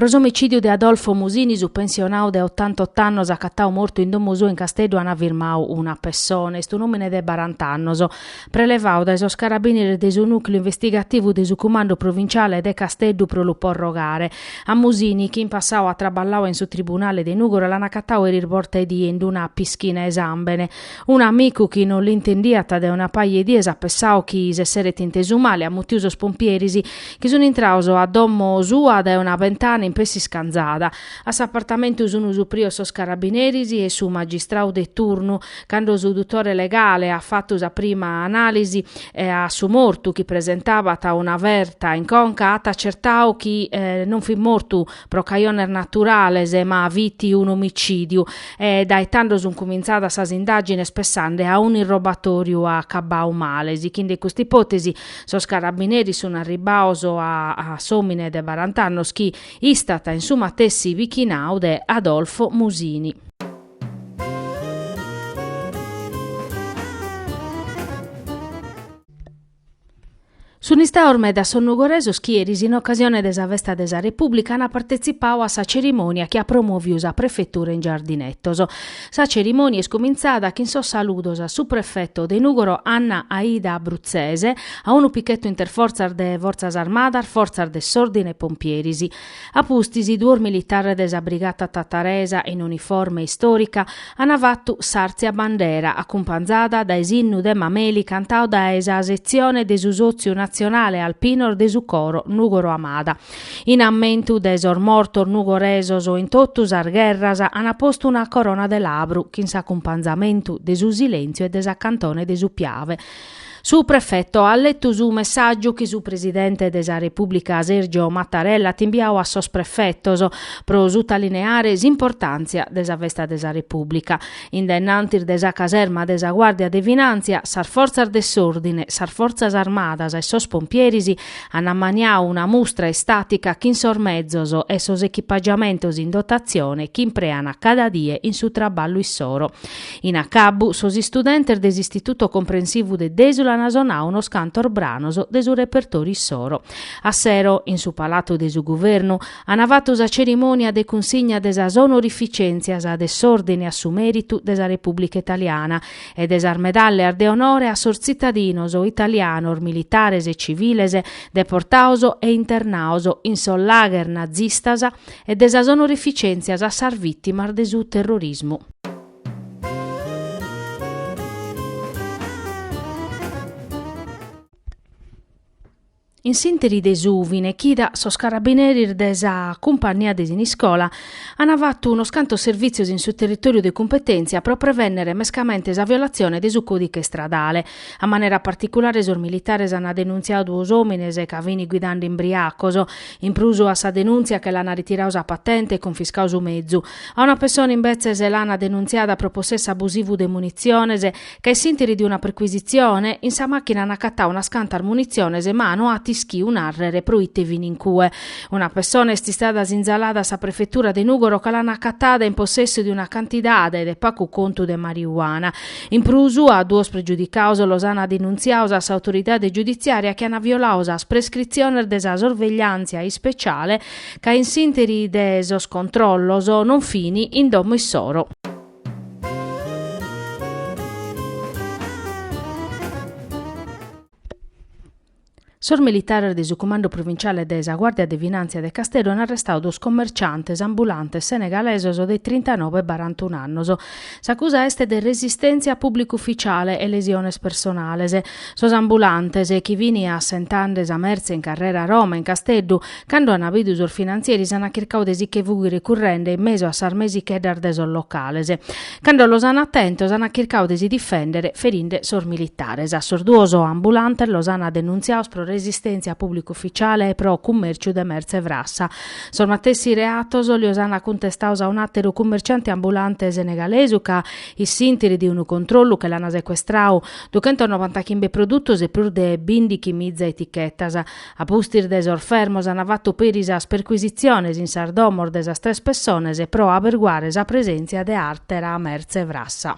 Pro s'omicìdiu de Adolfo Musini, su pensionadu de otantotto annos acatadu mortu in domo suo in Casteddu an firmadu una pessone. Est un'òmine de barant'annos. prelevadu dae sos carabìneres de su nùcleu investigativu de su Cumandu Provinciale de Casteddu pro lu porrogare. A Musini, chi in passadu at traballau in su tribunale de Nùgoro, l'an acatadu eris bortaedie in d-una pischina 'e sàmbene. Unu amigu chi non l'intendiat dae una paja 'e dies at pessadu chi s'esseret intesu male, at mutiu sos pompieris, chi sunt intrados a domo sua dae una bentana in pessi iscanzada. A s'apartamentu sunu suprios sos carabineris e su magistrau de turnu. Cando su dutore legale at fatu sa prima analisi a su mortu chi presentabat una ferta in conca at acertau chi non fit mortu pro cajones naturales ma fit un'omicìdiu e dae tando sunt cumentzadas sas indàgines pessande a un'irrobatoriu acabbau male. Sighende custa ipòtesi sos carabineris sunt arribbaos a s'òmine de barant'annos chi Istat in su matessi bichinau de Adolfo Musini. Sunt istados medas sos nugoresos chi eris in ocasione de sa festa de sa Repùblica ant partetzipadu a sa cerimònia chi at promovidu sa prefetura in Giardinettos. Sa cerimònia est cumintzada chin sos saludos a su prefeto de Nùgoro Anna Aida Bruzzese, a unu pichetu interfortzas de Fortzas Armadas, fortzas de s'òrdine e pompieris. A pustis, duos militares de sa Brigata Tataresa in uniforme istòrica ant fatu s'àrtzia bandera, acumpanzada dae s'innu de Mameli cantadu dae sa setzione de su Sòtziu Natzionale Alpinos de su coro Nùgoro Amada. In ammentu de sos mortos nugoresos in totu sas gherras ant postu una corona de labru chin s'acumpanzamentu de su silèntziu e de sa cantone de su Piave. Su prefeto at letu su messàgiu chi su presidente de sa Repùblica Sergio Mattarella at imbiadu a sos prefetos pro sutalineare s'importàntzia de sa festa de sa Repùblica. In dainnantis de sa caserma de sa Guàrdia de Finàntzia, sas fortzas de s'òrdine, sas fortzas armadas e sos pompieris An ammaniau una mustra istàtica chin sos mezos e sos echipagiamentos in dotatzione chi imprean cada die in su traballu issoro. In acabbu, sos istudentes de s'Istituto Comprensivu de Dèsula an sonau unos cantos branos de su repertòriu issoro. A sero, in su Palatu de su Guvernu, an fatu sa cerimònia de cunsigna de sas onorificèntzias de s'Òrdine a su Mèritu de sa Repùblica Italiana, e de sas medalleas de onore a sos tzitadinos italianos militares e civiles deportados e internados in sos lagher nazistas e de sas onorificèntzias a sas vìtimas de su terrorismu. In s'interi de su fine chida sos carabineris de sa Cumpannia de Siniscola an fatu unos cantos servìtzios in su territòriu de cumpetèntzia pro prevènnere mescamente sa violatzione de su còdighe istradale. A manera particulare sos militares an denuntziadu duos òmines ca fin guidende imbriacos. In prus a sa denùntzia che l'an ritiradu sa patente e cunfiscadu su mezu. A una pessone imbetzes l'an denuntziada pro possessu abusivu de munitziones Ca in s'interi de una perquisitzione, in sa machina an accattau unas cantas munitziones ma no at ischiu narrer pro ite fin in cue. Una pessona est istada sinzalada a sa prefetura de Nugoro ca l'an accattada in possessu de una cantidade de pacu contu de mariuana. In prus, a duos pregiudicaus los an denuntziaus a s'autoridade giuditziaria chi an violau sas prescritziones de sa sorvegliantzia ispeciale ca in s'interi de sos controllos non fin in domo issoro. Sos militares de su Cumandu Provinciale de sa Guàrdia de Finàntzia de Casteddu an arrestadu duos commerciantes ambulantes senegalesos de trintanobe e barantunu annos. S'acusa est de resistèntzia a pùblicu ufitziale e lesiones personales. Sos ambulantes, chi fin assentande sa mertze in carrera Roma, in Casteddu, Cando ana bidu sos finanzieris ana chircadu de si che fughire currende in mesu a sas mesicheddas de sos locales. Cando los ana tentos ana chircadu de si difendere ferinde sos militares. A sos duos ambulantes los ana denuntziados pro resistentzia a publicu ufficiale e pro cummerciu de mertze frassa. Sos matessi reatos lios ana cuntestados a un ateru cummerciante ambulante senegalesu ca, in s'interi de unu controllu che l'ana sequestradu duchentos novantachimbe produtos e prus de bindichimiza etichetas, A pustis de sos fermos an fatu peri sas percuisitziones in sas domos de sas tres pessones pro aberguare sa presèntzia de àtera mertze frassa.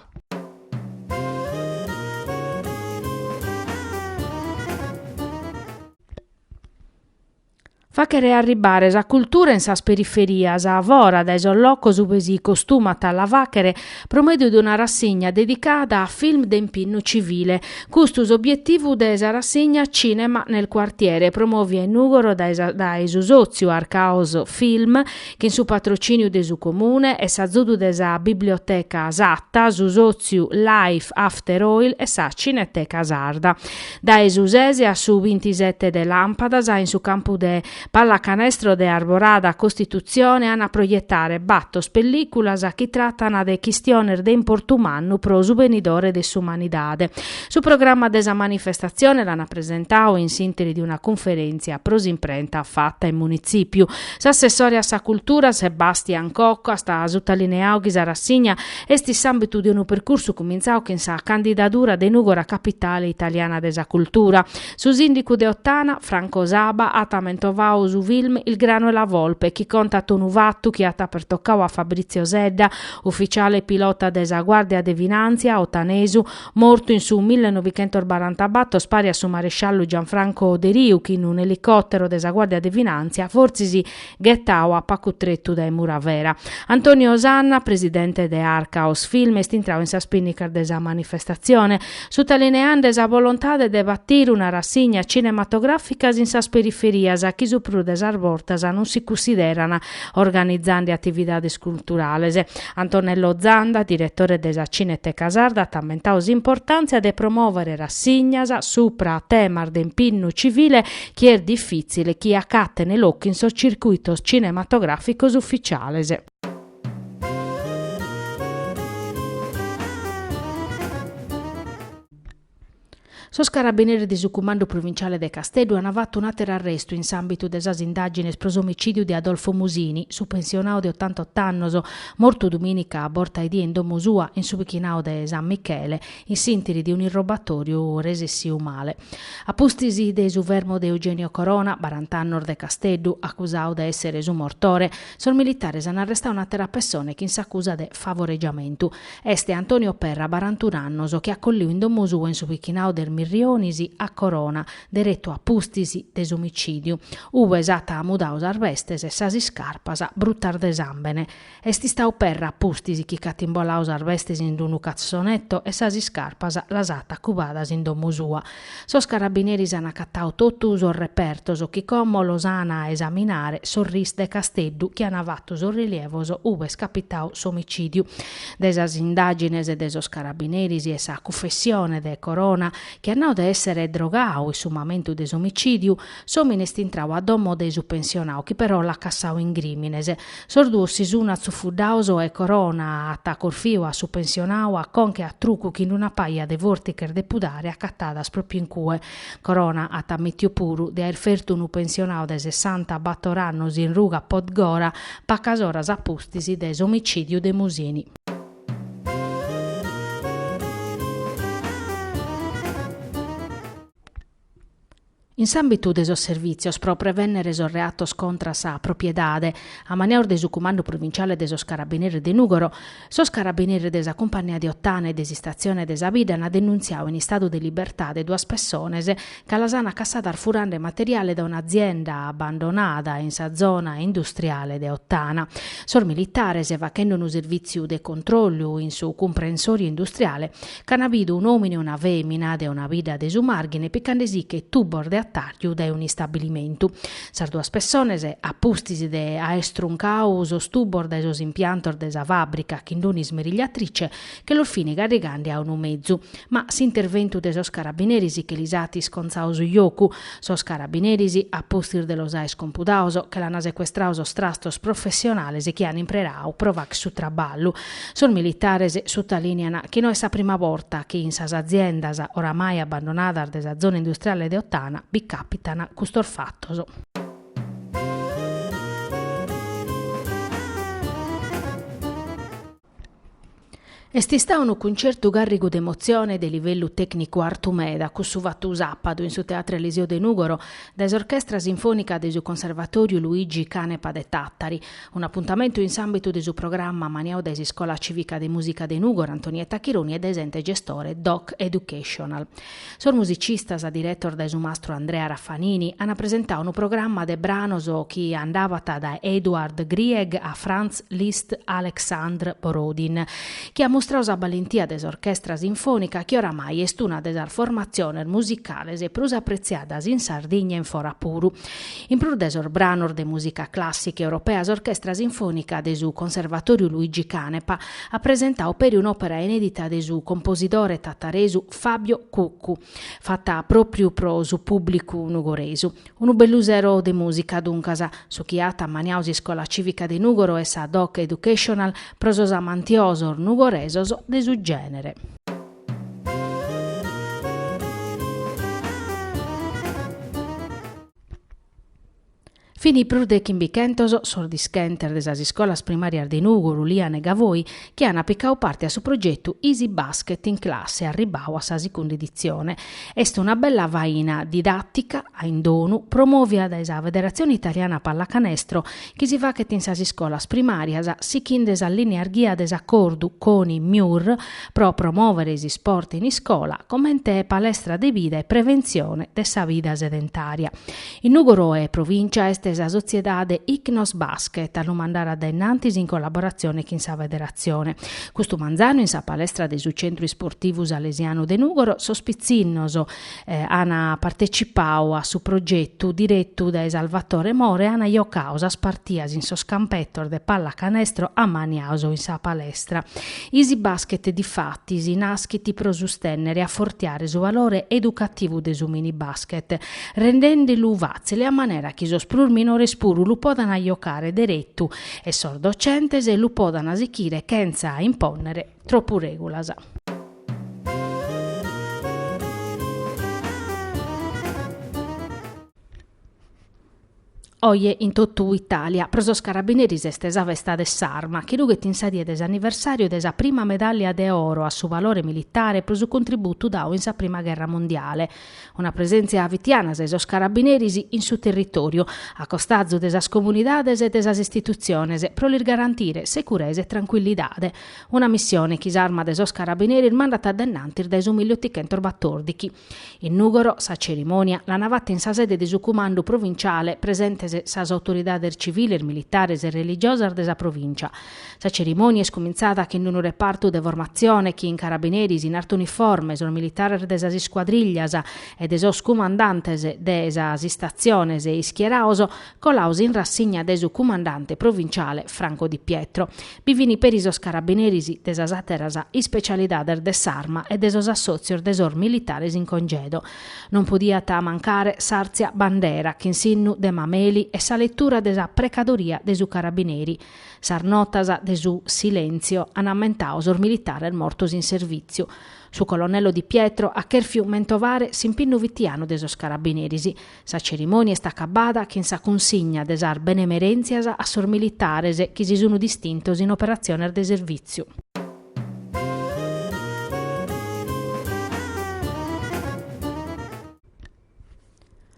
Fàghere arribbare sa cultura in sas periferias, fora dae sos locos ue si costumat a la fàghere, pro medio de una rassigna dedicada a film de impinnu civile. Custu s'obietivu de sa rassigna Cinema nel quartiere, promòvia in Nùgoro dae su sòtziu Arcaos Film, chin su patrocìniu de su Comune e s'azudu de sa Biblioteca Satta, su sòtziu Life After Oil e sa Cineteca Sarda. Dae su sese a su bintisete de Làmpadas in su campu de Pallacanestro de Arborada Costitutzione an a proietare bator pellìculas chi tratan de chistiones de importu mannu pro su benidore de s'umanidade. Su programma de sa manifestatzione l'an presentadu in s'interi de una cunferèntzia pro s'imprenta fata in Munitzìpiu. S'assessore a sa Cultura, Sebastian Cocco, at sutalineadu chi sa rassigna est in s'àmbitu de unu percursu cumintzadu chin sa candidadura de Nùgora capitale italiana de sa cultura. Su sìndicu de Ottana, Franco Saba, at amentovadu su film Il grano e la volpe chi contat unu fatu chi at pertocadu a Fabrizio Sedda, ufitziale pilota de sa Guàrdia de Finàntzia, otanesu, mortu in su millenovichentosnorantabator pari a su maresciallu Gianfranco Deriu chi fin in un'elicòtero de sa Guàrdia de Finàntzia fortzis ghetadu a pacu tretu dae Muravera, Antonio Sanna, presidente de Arkaos Film, est intradu in sas pìnnicas de sa manifestatzione, sutalineende sa bolontade de batire rassignas cinematogràficas in sas periferias chi su prus de sas bortas non si cussideran organizende atividades culturales. Antonello Zanda, diretore de sa Cineteca Sarda, at ammentadu s'importàntzia de promòvere rassignas subra temas de impinnu civile chi est difìtzile chi acaten locu in sos circuitos cinematogràficos ufitziales. Sos carabineris de su Cumandu Provinciale de Casteddu ant fatu un'àteru arrestu in s'àmbitu de sas indàgines pro s'omicìdiu de Adolfo Musini, su pensionadu de otantot'annos, mortu dumìnica a borta 'e die in domo sua in su pichinadu de San Michele, in s'interi de un'irrobatoriu resessiu male. A pustis de su fermu de Eugenio Corona, barant'annos de Casteddu, acusau de essere su mortore, sos militares an arrestau un'atera pessone chin s'acusa de favoregiamentu. Est Antonio Perra, barantun'annos, chi at colliu in domo sua in su pichinau de is Mirrionis a Corona, deretu a pustis de s'omicidiu, ue s'at mudau sas bestes e sas iscarpas brutas de sambene. Est istadu Perra a pustis chi ch'at imboladu sas bestes in d-unu cassonetto e sas iscarpas las at acubadas in domo sua. Sos carabineris an acatadu totu sos repertos chi como los an a esaminare sos RIS de Casteddu chi an fatu sos rilievos ube est capitadu s'omicìdiu. Dae sas indàgines de sos carabineris e sa cufessione de Corona chi at nadu de èssere drogadu in su mamentu de s'omicìdiu, s'òmine est intradu a domo de su pensionadu chi però l'at cassadu in crìmines. Sos duos si sun atzufuddaos e Corona at corfiu a su pensionau a conca e a trucu chin d-una paja de fortiches de pudare acatadas propriu in cue. Corona at ammitiu puru de aer fertu unu pensionau de sessanta bator annos in ruga Podgora pacas oras a pustis de s'omicidiu de Musini. In s'àmbitu de sos servìtzios pro prevènnere sos reatos contra sa propiedade, ammaniaus de su Cumandu Provinciale de sos Carabineris de Nùgoro, sos carabineris de sa Cumpannia de Ottana e de s'Istatzione de sa bidda ant denuntziadu in istadu de libertade duas pessones ca las ant cassadas furande materiale dae un'azienda abbandonada in sa zona industriale de Ottana. Sos militares, fachende unu servìtziu de controllu in su cumprensòriu industriale, Ch'ana bidu un'omine e una femina de una bidda de su Marghine piccandesiche tubos de attariu dae un'istabilimentu. Sas duas pessones, a pustis de aer struncadu sos tubos dae sos impiantos de sa fabbrica chin d'un'ismerigliatrice che los fini carrigande a unu mezu, ma s'interventu de sos carabineris che lis at isconzadu su jocu, Sos carabineris, a pustis de los aer compudados, che l'ana secuestradu sos trastos professionales chi an impreradu pro facher su traballu. Sos militares sutalìnian chi no est sa prima borta chi in sas aziendas oramai abbandonadas de sa zona industriale de Ottana bi càpitan custos fatos. Est istadu unu cuncertu càrrigu de emotzione e de livellu tècnicu artu meda cussu fatu sàpadu in su Teatru Eliseo de Nùgoro dae s'Orchestra Sinfònica de su Conservatòriu Luigi Canepa de Tàtari, un'apuntamentu in s'àmbitu de su programma ammaniadu dae s'Iscola Cìvica de Mùsica de Nùgoro Antonietta Chironi e dae s'ente gestore Doc Educational. Sos musicistas diretos dae su mastru Andrea Raffanini ant presentadu unu programma de branos chi andabat dae Edvard Grieg a Franz Liszt a Aleksandr Borodin, chi at mustradu sa balentìa de s'orchestra sinfònica chi oramai est una de sas formatziones musicales prus apretziadas in Sardigna e in fora puru. In prus de sos branos de mùsica clàssica europea s'Orchestra Sinfònica de su Conservatòriu Luigi Canepa at presentadu peri un'òpera inèdita de su composidore tataresu Fabio Cuccu, fata pròpriu pro su pùblicu nugoresu. Unu bellu sero de mùsica, duncas, su chi at ammaniadu s'Iscola Cìvica de Nùgoro e sa Doc Educational pro sos amantiosos nugoresos de su gènere. Fini prus de chimbichentos sos dischentes de sas iscolas primàrias de Nùgoro, Uliana e Gavoi chi an picadu parte a su progetu Easy Basket in classe arribadu a sa sicunda editzione. Est una bella faina didàtica, a in donu, promòvida dae sa Federatzione Italiana Pallacanestro chi si fachet in sas iscolas primàrias sichinde sas lìneas ghia de s'acordu Coni-Miur pro promòvere s'isport in iscola comente palestra de vida e preventzione de sa vida sedentària. In Nùgoro e provìncia est sa sotziedade Ichnos Basket a lu mandare a dae innantis in collaboratzione chin sa federatzione. Custu manzanu in sa palestra de su Centru Isportivu Salesianu de Nùgoro sos pitzinnos an partecipadu a su progetu diretu dae Salvatore More e an jocadu sas partias in sos campetos de pallacanestro ammaniados in sa palestra. Easy Basket difatis naschit pro sustènnere e afortiare su valore educativu de su mini basket rendende·lu fàtzile a manera chi sos prus minores puru lu podant jocare deretu e sos docentes lu podant sichire chentza impònnere tropu règulas. Oje in totu Itàlia pro sos carabineris est sa festa de s'arma, chi rughet in sa die de s'anniversàriu de sa prima medàllia de oro a su valore militare pro su contributu dadu in sa prima gherra mundiale. Una presèntzia fitiana de sos carabineris in su territòriu, a costazu de sas comunidades e de sas istitutziones, pro lis garantire seguresa e trancuillidade. Una missione chi s'Arma de sos Carabineris mandat a dae in antis dae su mille otichentos batòrdighi. In Nùgoro sa cerimònia l'ana fata in sa sede de su Cumandu Provinciale, presentes sas autoridades civiles, militares e religiosas de sa provìncia. Sa cerimònia est cumintzada chin d-unu repartu de formatzione chin carabineris in arta uniforme, sos militares de sas iscuadrìllias e de sos cumandantes de sas istatziones e ischierados Colaus in rassigna de su cumandante provinciale Franco Di Pietro. Bi fin peri sos carabineris de sas àteras ispecialidades de s'arma e de sos assòtzios de sos militares in congedo. Non podiat mancare s'àrtzia bandera chin s'innu de Mameli e sa letura de sa precadoria de su carabineri. Sas notas de su silèntzio an ammentadu sos militares mortos in servìtziu. Su colonnello Di Pietro at chèrfiu mentovare s'impinnu fitianu de sos carabineris. Sa cerimònia est acabada chin sa cunsigna de sas benemerèntzias a sos militares chi si sun distintos in operatziones de servìtziu.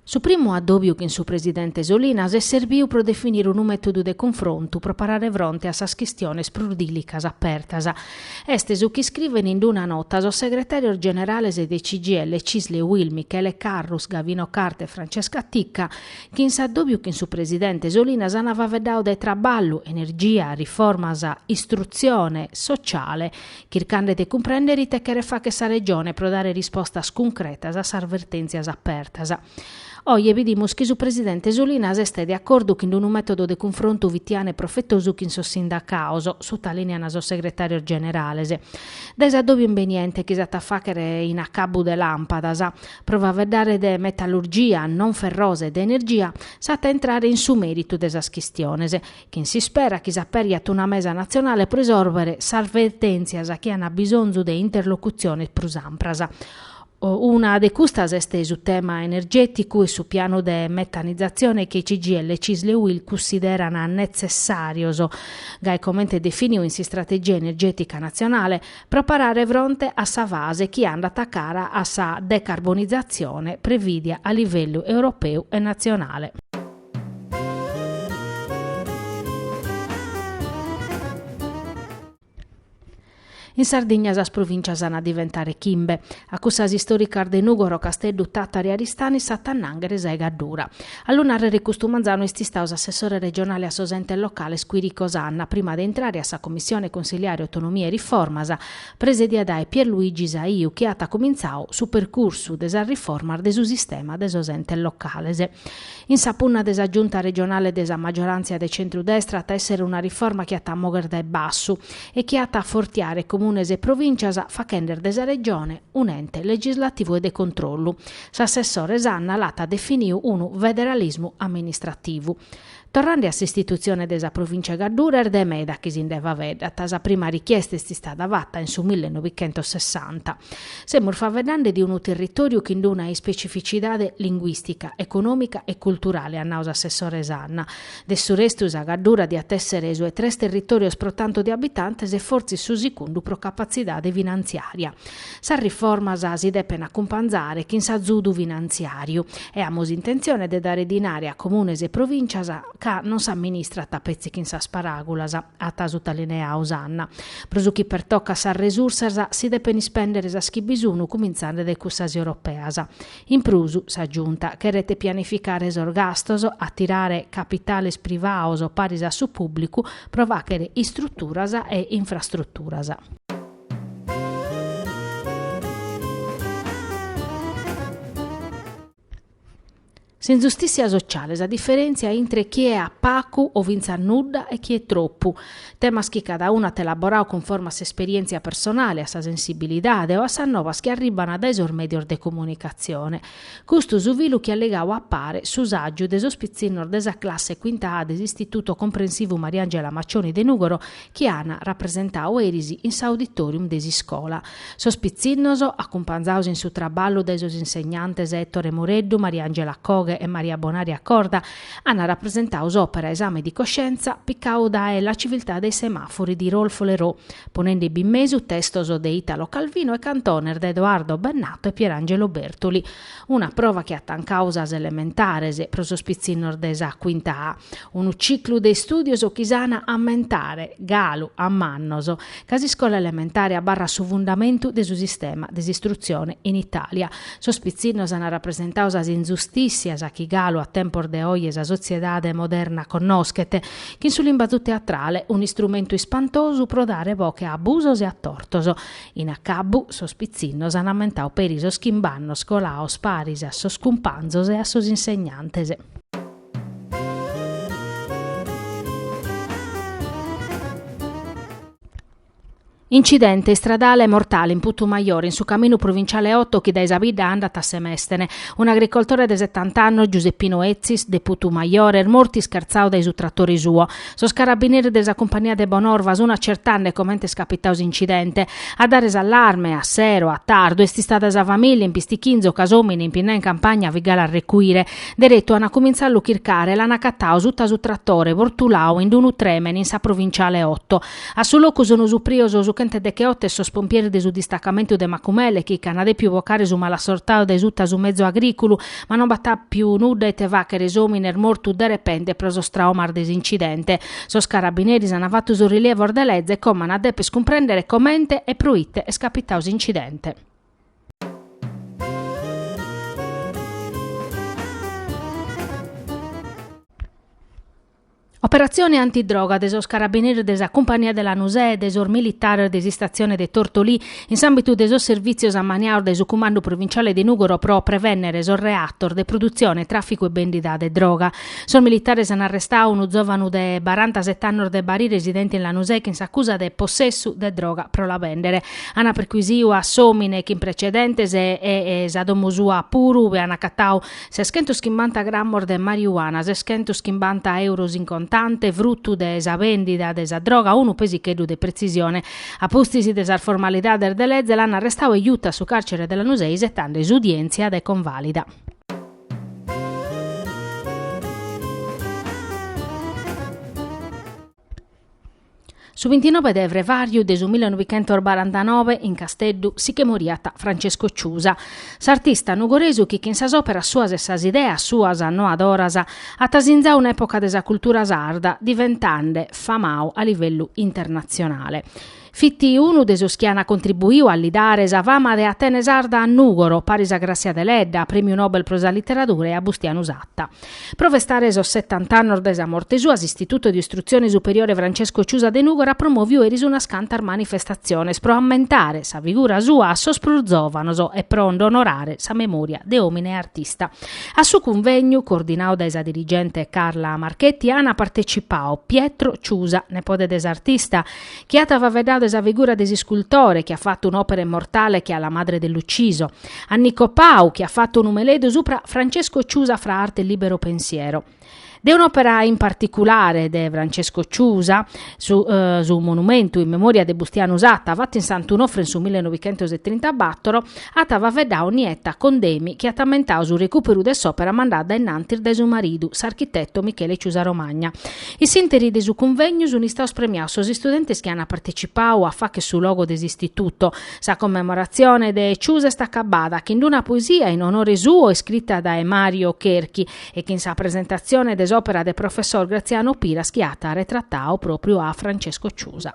Su primu addòbiu chin su presidente Solinas est serbiu pro definire unu mètodu de cunfrontu pro parare fronte a sas chistiones prus dìlicas apertas Est su chi iscrivent in d-una nota sos segretàrios generales de CGIL CISL e UIL, Michele Carrus, Gavino Carta e Francesca Ticca, chi in s'addòbiu chin su presidente Solinas ant faveddadu de traballu, energia, riformas, istrutzione, sociale, chircande de cumprèndere ite cheret fàghere sa Regione pro dare rispostas cuncretas a sas vertèntzias apertas. Oje bidimus chi su presidente Solinas est de acordu chin d'unu metodu de cunfrontu fitianu e profetosu chin sos sindacaos, sutalìnean sos segretàrios generales. Dae s'addòbiu imbeniente chi s'at a fàghere in acabbu de làmpadas, pro faeddare de metallurgia, non ferrosa e de energia, s'at a intrare in su mèritu de sas chistiones, chin s'ispera chi s'aperiat una mesa natzionale pro isòrbere sas vertèntzias chi an bisonzu de interlocutziones prus ampras. Una de custas est su tema energèticu e su pianu de metanizatzione chi i CGIL e CISL e UIL cunsideran netzessàrios, gai comente definiu in s'Istrategia energètica natzionale, pro parare fronte a sa fase chi andat a cara a sa decarbonizatzione prevìdia a livellu europeu e natzionale. In Sardigna sas provìncias an a diventare chimbe. A cussas istòricas de Nùgoro, Casteddu, Tàtari, Aristani s'at a annànghere sa 'e Gaddura. A lu nàrrere custu manzanu est istadu s'assessore regionale a sos entes locales Quirico Sanna, prima de intrare a sa Commissione Cunsiliare Autonomia e Riformas, presedia dae Pierluigi Saiu, chi at cumintzau su percursu de sas riformas de su sistema de sos entes locales. In sa punna de sa Giunta regionale de sa maggiorantzia de centru-destra at èssere una riforma chi at a mòghere dae bassu e chi at a afortiare comunes e provìncias faghende de sa Regione un'ente legislativu e de controllu. S'assessore Sanna l'at definiu unu federalismu amministrativu. Torrende a s'istitutzione de sa Provìncia 'e Gaddura est de meda chi si nde faeddat. Sa prima richiesta est istada fata in su millenovichentossessanta. Semus faeddende de unu territòriu chin d'una ispecificidade linguìstica, econòmica e culturale, at nau s'assessore Sanna. De su restu sa Gaddura diat èssere su 'e tres territòrios pro tantu de abitantes e fortzis su sigundu pro capatzidade finantziària. Sas riformas si depent acumpanzare chin s'azudu finantziàriu e amus intentzione de dare dinare a comunes e provìncias ca non s'amministrat petzi chin sas paràgulas, at sutalineau Sanna. Pro su chi pertocat sas resursas, si depen ispèndere sas chi bi sun, cumintzende dae cussas europeas. In prus, sa Giunta cheret pianificare sos gastos, atirare capitales privaos paris a su pùblicu pro fàghere istruturas e infrastruturas. S'inzustìtzia sociale, sa diferèntzia intre chie at pagu o fintzas nudda e chie tropu, temas chi cada unu at elaborau cunforma a s'esperièntzia personale, a sa sensibilidade o a sas novas chi arribant dae sos mèdios de comunicatzione. Custu su filu chi at ligau a pare su sàgiu de sos pitzinnos de sa classe quinta A de s'Istituto Comprensivu Mariangela Maccioni de Nùgoro chi an rapresentau eris in s'auditorium de s'iscola sos pitzinnos, acumpanzados in su traballu dae sos insegnantes Ettore Mureddu, Mariangela Coghe e Maria Bonaria Corda, an rapresentau s'òpera Esame di coscienza picadu dae La civiltà dei semafori di Rolf Leroux, ponende bi in mesu testos de Italo Calvino e cantones de Edoardo Bennato e Pierangelo Bertoli, una prova chi at tancadu sas elementares pro sos pitzinnos de sa Quinta A. Unu ciclu de istùdios chi s'an a ammentare, galu a mannos, ca s'iscola elementare abarrat su fundamentu de su sistema de s'istrutzione in Itàlia. Sos pitzinnos an rapresentadu sas inzustìssias chi galu a tempos de oje sa sotziedade moderna connoschet, chin su limbadu teatrale, un'istrumentu ispantosu pro dare boche a abusos e a tortos. In acabbu, sos pitzinnos an ammentadu peri sos chimbe annos colados paris a sos cumpanzos e a sos insegnantes. Incidente istradale mortale in Putumajore, in su caminu provinciale 8 chi dae sa bidda andat a Semestene. Un'agricoltore de setant'annos, Giuseppino Etzis, de Putumajore, est mortu ischertzadu dae su tratore suo. Sos carabineris de sa cumpania de Bonorva sun acertende comente est capitadu s'incidente. A dare s'allarme, a sero, a tardu, est istada sa famìlia in pistichinzu ca s'òmine impinnau in campagna fit galu a recuire. Deretu ana cumintzau a lu chircare, l'ana acatau suta su tratore, vortulau in d'unu tremen in sa provinciale otto. A su locu sono suprios su chente decheoto e sos pompieris de su distacamentu de Macumele chi ch'ana depiu vocare su malassortau dae suta su mezo agriculu, ma non b'at apiu nudda ite fachere s'omine est mortu derepente pro sos traumas de s'incidente. Sos carabineris ana fatu sos rilievos de leze e como ana deper cumprendere comente e pro ite est capitau s'incidente. Operatzione antidroga de sos carabineris de sa Cumpania de Lanusè e de sos militares de s'istatzione de Tortolì in s'àmbitu de sos servìtzios ammaniados dae su Cumandu Provinciale de Nùgoro pro prevènnere sos reatos de produtzione, tràficu e bèndida de droga. Sos militares an arrestadu unu zòvanu de barantasete annos de Bari residente in Lanusè chin s'acusa de possessu de droga pro la bèndere. Ana perquisiu a s'omine chin precedentes e sa domo sua puru ue an acatau seschentos chimbanta grammos de mariuana, seschentos chimbanta euros in contante, fruttu de sa vendida de sa droga, unu pesicheddu de pretzisione. A pustis de sas formalidades de leze l'ana arrestau e jutu a su carcere de Lanusei isettande s'udientzia de convalida. Su bintinoe de frevàriu de su millenoichentos barantanoe in Casteddu si che moriat Francesco Ciusa, s'artista nugoresu chi chin sas òperas suas e sas ideas suas annoadoras at asinzadu un'època de sa cultura sarda diventende famadu a livellu internatzionale. Fit unu de sos chi ant contribuidu a li dare sa fama de Atene Sarda a Nùgoro, paris a Gràssia Deledda, prèmiu Nobel pro sa literadura, e a Bustianu Satta. Pro festare sos setant'annos dae sa morte sua, s'Istituto di Istruzione Superiore Francesco Ciusa de Nùgoro at promòviu eris unas cantas manifestatziones pro ammentare sa figura sua a sos prus zòvanos e pro nd'onorare sa memòria de òmine e artista. A su cunvègnu, coordinadu dae sa dirigente Carla Marchetti, ant partetzipadu Pietro Ciusa, nepode de s'artista, chi at faveddadu de sa figura de s'iscultore chi at fatu un'òpera immortale che a La madre dell'ucciso, a Nico Pau chi at fatu unu meleddu supra Francesco Ciusa fra arte e libero pensiero. De un'òpera in particulare de Francesco Ciusa, su, su monumentu in memòria de Bustianu Satta, fatu in Sant'Unofre in su 1934, At faveddau Nietta Condemi chi at ammentau su recùperu de s'òpera mandada in antis dae su maridu, s'architetu Michele Ciusa Romagna. In s'ìnteri de su cunvegnu sunt istaus premiaus sos istudentes chi ant partecipau a fàcher su logo de s'Istituto. Sa commemoratzione de Ciusa est acabada chin d'una poesia in onore suo iscrita dae Mario Cherchi e chin sa presentatzione de s'òpera de professor Graziano Piras chi at retratau pròpriu a Francesco Ciusa.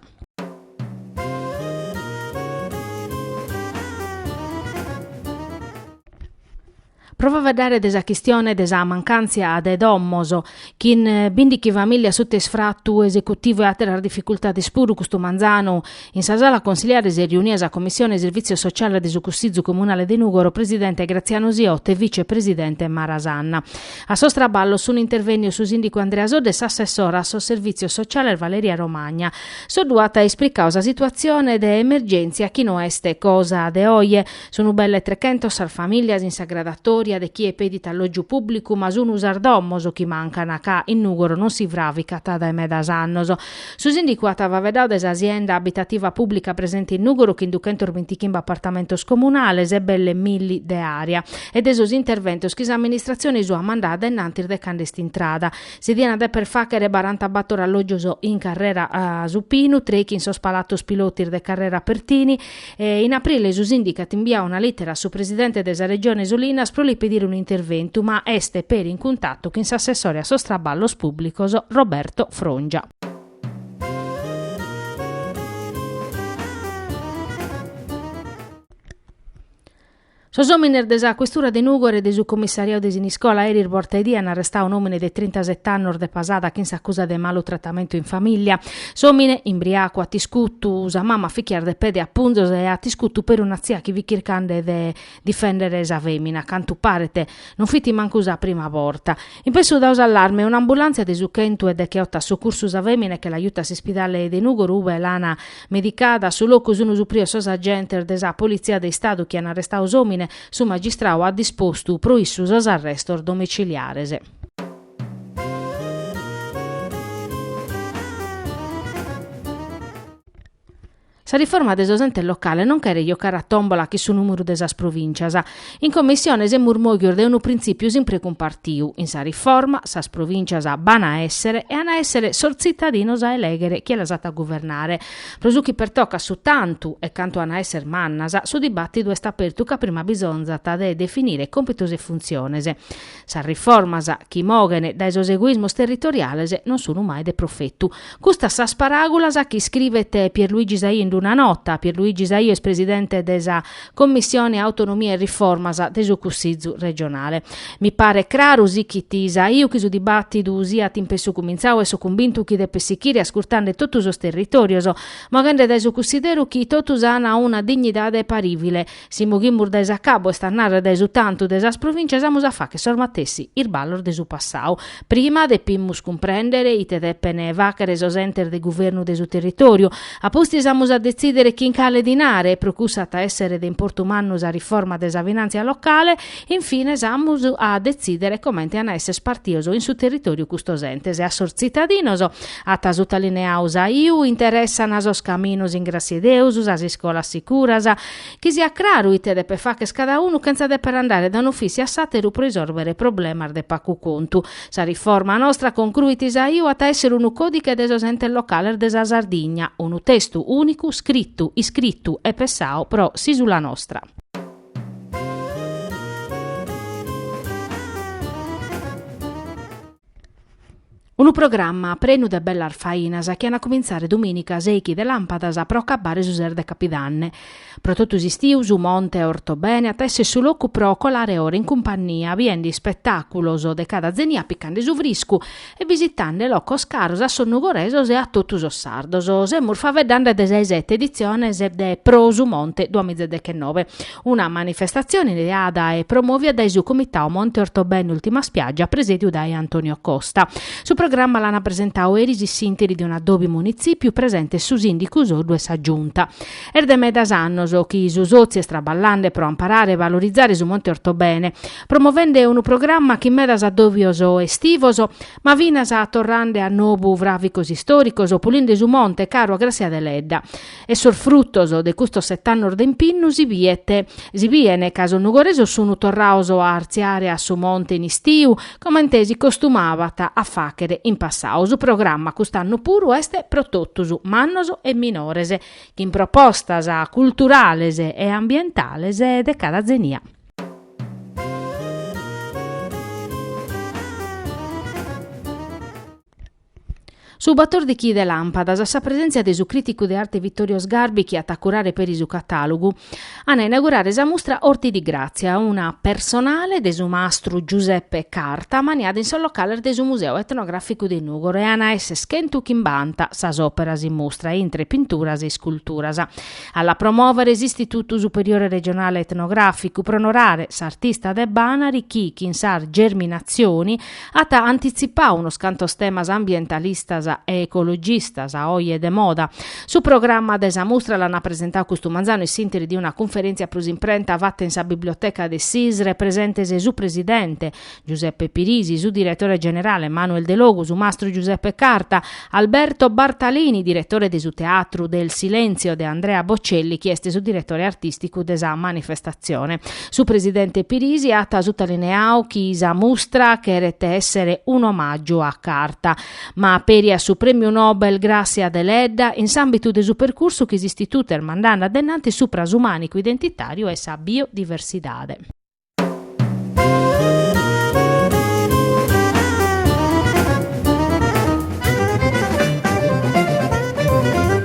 Pro faeddare de sa chistione de sa mancàntzia de domos, chin bìndighi famìllias suta isfratu esecutivu e àteras dificultades puru custu manzanu, in sa sala consiliare s'est riunia sa Commissione Servìtzios Sociales de su Cussizu Comunale de Nùgoro, presidente Graziano Siotto e vice presidente Mara Sanna. A sos traballos sunt intervènnios su sìndicu Andrea Soddu e s'assessora a sos Servìtzios Sociales Valeria Romagna. Soddu at isplicau sa situatzione de emergèntzia chi no est cosa de oje. Sunu belle trechentos sas famìlias in sa gradatoria de chie pedit allògiu pùblicu ma sunu sas domos chi mancan ca in Nùgoro non si fràvicat dae medas annos. Su sìndicu at faeddadu de sa sienda abitativa pùblica presente in Nùgoro chin duchentos bintichimbe apartamentos comunales e belle milli de Area e de sos interventos chi s'amministratzione sua at mandadu a in antis de cand'est intrada Si diant deper fàghere barantabator allògios in carrera Su Pinu, trèichi in sos palatos pilotis de carrera Pertini, e in aprile su Sìndicu at imbiadu una lìtera a su presidente de sa Regione Solinas pro li pedire un'interventu, ma est peri in cuntatu chin s'assessore a sos traballos pùblicos Roberto Frongia. Sos òmines de sa questura de Nùgoro e de su comissariau de Siniscola eris borta 'e die an arrestau un'òmine de trintasete annos de Pasada chin s'acusa de malu tratamentu in famìllia. S'òmine, imbriacu, at iscutu sa mama a fichias de pede e a punzos e at iscutu peri una tzia chi fit chircande de difèndere sa fèmina, a cantu paret non fit mancu sa prima borta. In pessu dau s'allarme, un'ambulàntzia de su chentu e decheoto at socursu sa fèmina e che l'at juta a s'ispidale de Nùgoro ube l'an Medicada. A su locu sun suprios sos agentes de sa Politzia de Istadu chi an arrestau s'òmine, su magistrau at dispostu pro issu sos arrestos domiciliares. Sa riforma de sos entes locales non cheret jocare a tòmbola chin su nùmeru de sas provìncias, In Commissione semus mòghios de unu printzìpiu simpre e cumpartiu, in sa riforma, sas provìncias b'an a èssere e an a èssere sos tzitadinos a elèghere chie las at a guvernare. Pro su chi pertocat su tantu e cantu an a èssere mannas, su dibàtidu est apertu ca prima bisonzat de definire còmpitos e funtziones. Sas riformas chi moghen dae sos egoismos territoriales non sun mai de profetu. Custas sas paràgulas chi iscrivet Pierluigi Saiu in una nota, Pierluigi Saiu est presidente de sa Commissione Autonomia e Riformas de su Cussizu regionale. Mi paret craru, sichit Saiu, chi su dibàtidu siat in pessu cumintzau e so cumbintu chi depet sichire ascurtande totu sos territorios, moghende dae su cussideru chi totus an una dignidade parìvile, Si moghimus dae s'acabu, est a narrer dae su tantu de sas provìntzias, amus a fàchere sos matessi isballos de su passau. Prima depimus cumprèndere ite depen fàchere sos entes de guvernu de su territòriu. A pustis amus a detzìdere chin cale dinare, pro cussu at a èssere de importu mannu sa riforma de sa finàntzia locale. In fines amus a detzìdere comente an a èssere spartios in su territòriu custos entes. A sos tzitadinos, at sutalineau Saiu, interessan sos caminos in gràssia 'e Deus, sas iscolas sicuras, Chi siat craru ite depet facher cada unu chentza deper andare da un'ofìssiu a s'àteru pro isòrvere problemas de pacu contu. Sa riforma nostra, concruit Saiu, at a èssere unu còdiche de sos entes locales de sa Sardigna, unu testu ùnicu scritu, iscritu e pessau pro s'ìsula nostra. Unu programma prenu de bellas fainas chi an a cumintzare domìnica seichi de làmpadas pro acabbare su ses de Capidanne. Pro totu s'istiu su Monte Ortobene at a èssere su locu pro colare ora in cumpannia biende ispetàculos de cada zenia picande su friscu e visitande locos caros a sos nugoresos e a totu sos sardos. Semus faveddande de sa 'e sete editziones de Pro su Monte duamìzedechenove, Una manifestatzione ideada e promòvia dae su Comitau Monte Ortobene Ultima Spiaggia presèdiu dae Antonio Costa. Su programma l'ana presentau eris in s'interi de un'addòbiu in munitzìpiu presentes su sìndicu Soddu e sa Giunta. Est de medas annos chi su sòtziu est traballande pro amparare e valorizare su Monte Ortobene, promovende unu programma chin medas addòbios estivos, ma finas torrande a nobu fràvicos istòricos, pulinde su monte caru a Gràssia Deledda. E sos frutos de custos set'annos de impinnu si biet, si biene ca sos nugoresos sunu torraos a artziare a su monte in istiu, comente si costumabat a fàchere in passau. Su programma cust'annu puru est pro totus, mannos e minores, chin propostas culturales e ambientales de cada zenia. Su batòrdichi de làmpadas a sa presèntzia de su crìticu de arte Vittorio Sgarbi chi at a curare peri su catàlogu, an a inaugurare sa mustra Orti di Grazia, una personale de su mastru Giuseppe Carta ammaniada in sos locales de su Museu Etnogràficu de Nùgoro e an a esser chentu chimbanta sas òperas in mustra, intre pinturas e isculturas. A la promòvere s'Istitutu Superiore Regionale Etnogràficu pro onorare s'artista de Banari chi, chin sas Germinazioni, At antitzipau unos cantos temas ambientalistas e ecologistas, a oje de moda. Su programma de sa mustra l'ana presentau custu manzanu in s'interi de una cunferèntzia pro s'imprenta fata in sa biblioteca de s'Isre, presentes su presidente, Giuseppe Pirisi, su diretore generale, Manuel Delogu, su mastru Giuseppe Carta, Alberto Bartalini, diretore de su Teatru del Silenzio, de Andrea Bocelli, chi est su diretore artìsticu de sa manifestatzione. Su presidente Pirisi at sutalineau chi sa mustra cheret èssere un'omàgiu a Carta, ma peri a su Prèmiu Nobel Gràssia Deledda in s'àmbitu de su percursu chi s'Istitutu est mandande addennanti supra su mànicu identitàriu e sa biodiversidade.